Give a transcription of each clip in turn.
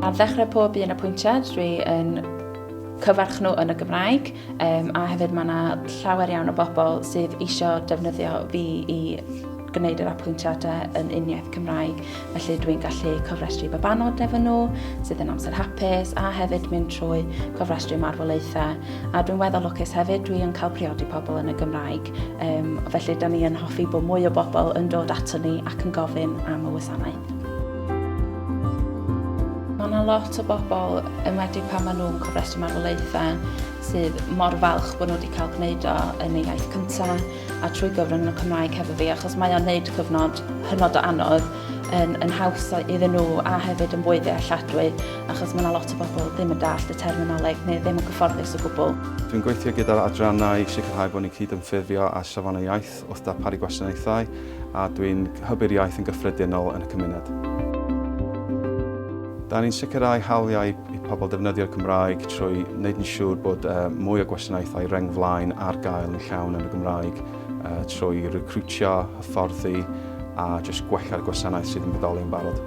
Ar ddechrau pob un apwyntiad, dwi yn cyfarch nhw yn y Gymraeg um, a hefyd mae yna llawer iawn o bobl sydd eisiau defnyddio fi i gwneud yr apwyntiadau yn uniaith Cymraeg. Felly dwi'n gallu cofrestru babanod efo nhw sydd yn amser hapus a hefyd mynd trwy cofrestru marwolaethau. A dwi'n weddol lwcus hefyd, dwi'n cael priodi pobl yn y Gymraeg. Um, felly, da ni yn hoffi bod mwy o bobl yn dod ato ni ac yn gofyn am y wasanaeth. Mae yna lot o bobl, yn wedi pan maen nhw'n cofrestru marwolaethau, sydd mor falch bod nhw wedi cael gwneud o yn ei iaith cyntaf a trwy gyfrwng y Cymraeg hefo fi, achos mae o'n neud cyfnod hynod o anodd yn, yn haws iddyn nhw a hefyd yn fwy ddealladwy. achos mae yna lot o bobl ddim yn dallt y terminoleg neu ddim yn gyfforddus o gwbl. Dwi'n gweithio gyda'r adrannau i sicrhau bod ni'n cydymffurfio â Safonau Iaith wrth darparu gwasanaethau a dwi'n hybu'r iaith yn gyffredinol yn y cymuned. Da ni'n sicrhau hawliau i pobl defnyddio'r Gymraeg trwy wneud yn siŵr bod mwy o gwasanaethau reng flaen ar gael yn llawn yn y Gymraeg trwy recriwtio, hyfforddi a jyst gwella'r gwasanaeth sydd yn bodoli yn barod.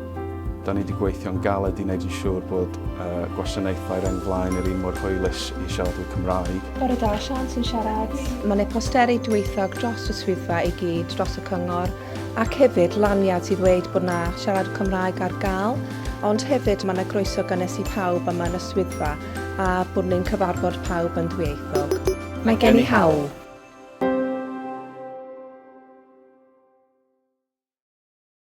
Da ni wedi gweithio'n galed i wneud yn siŵr bod uh, gwasanaethau reng flaen yr un mor hwylus i siaradwyr Cymraeg. Bore da, Sian sy'n siarad. Mae yna posteri dwyieithog dros y swyddfa i gyd, dros y cyngor, ac hefyd laniad sydd dweud bod yna siarad Cymraeg ar gael, ond hefyd mae yna groeso gynnes i pawb yma yn y swyddfa a bod ni'n cyfarfod pawb yn ddwyieithog. Mae gen i hawl.